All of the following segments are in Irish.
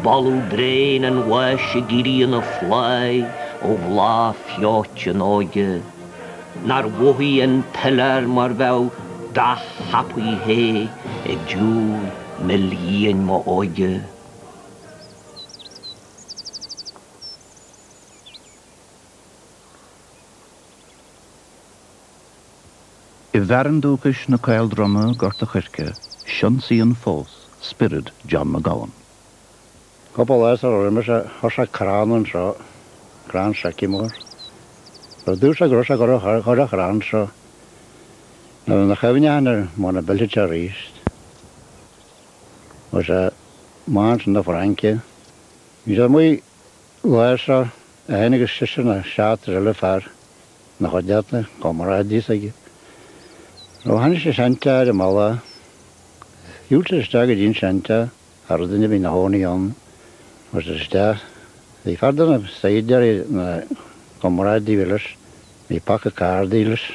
Baladh bréan an bháis ag éirí ina phláigh ó bhláth feoite na hóige. Nár mhothaigh an piléar mar bheadh beach thapaidh the ag diúl mil de fhíon m'óige. I bhfearann dúchais na Caoldroma, Gort a' Choirce, soilsíonn fós spiorad John McGowan. Cúpla lá sula raibh mise, thosaigh crann anseo, crann seiceamóir. Ar dtús ag rith sé go raibh thoir an chrainn seo, nó ina chuimhne sin ar mo na bilsite aríst. Istigh i mbánta na Fraince, bhí siad amuigh lá seo, é féin agus seisear nó seachtar eile fear. na saighdiúirí, comrádaithe aige. Nó chonaic siad seanteach ar an mballa, shiúil siad isteach go dtí an seanteach, ní raibh duine ar bith ina chónaí ann, agus ar isteach. Bhí fear de na saighdiúirí na, comrádaí a bhí leis, bhí paca cárdaí leis.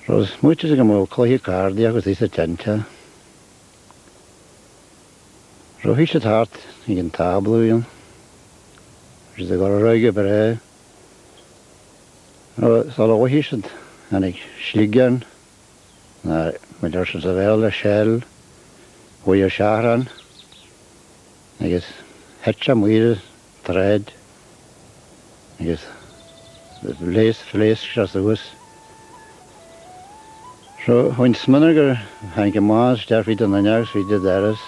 Rud maith go mbeadh cluiche cárdaí acu thíos sa tseanteach. Rothaigh siad thart ag an tábla uileann, bhí siad ag oraráidh go breá, nó sula bhfaigheadh siad tháinig sliogán, ná muid ar siad sa Bhéarla, shell, uaidh an seachrán, agus thit sé maol. an tsráid agus phléasc phléasc sé suas. So, tháinig an smionagar tháinig an bás isteach fríd an fhuinneog is fríd an doras.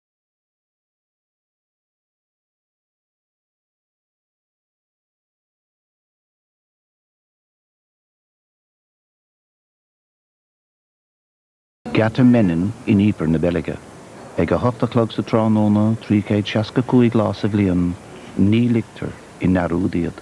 Geata Menin in Ieper na Beilge. Ag a hocht a chlog sa tráthnóna, 365 lá sa bhliain, ní ligtear i ndearmad iad.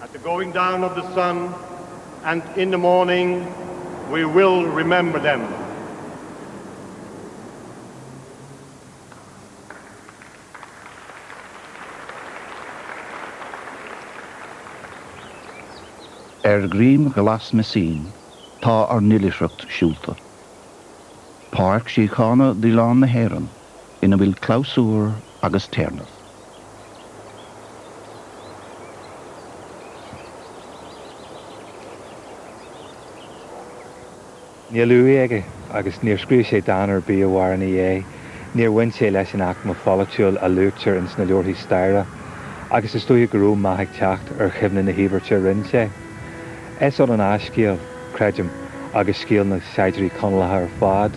At the going down of the sun and in the morning we will remember them. Ar dhroim glas Messine tá ár n-oilithreacht siúlta. Páirc Síochána d'Oileán na hÉireann. ina bhfuil clabhsúr agus téarnamh. Níl uaigh aige agus níor scríobh sé dán ar bith a mhair ina dhéidh. Níor bhain sé leis an aicme pholaitiúil a luaitear ins na leabharthaí staire agus is dóiche go raibh meath ag teacht ar chuimhne na híobairte a rinn sé. Is ionann a scéal, creidim, agus scéal na saighdiúirí Conallacha ar fad.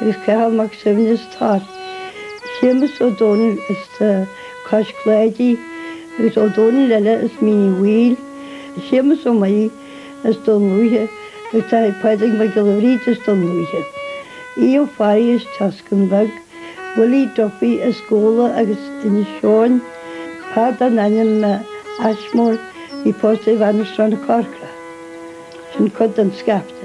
Is Cathal Mac Suibhne as an Tor. Séamus Ó Dónaill as Cois Cláidí agus Ó Dónaill eile as Mín Uí Bhaoill. Séamus Ó Maonaigh as Dún Lúiche agus taithigh Pádraig Mac Giolla Bhríde as Dún Lúiche. Aodh Ó Fearraigh as an tSeascann Bheag. Willie Duffy as Gabhla agus Inis Eoghain. Fear den ainm Ashmore a bhí pósta ar bhean as Srath na Corcra. Sin cuid den scaifte.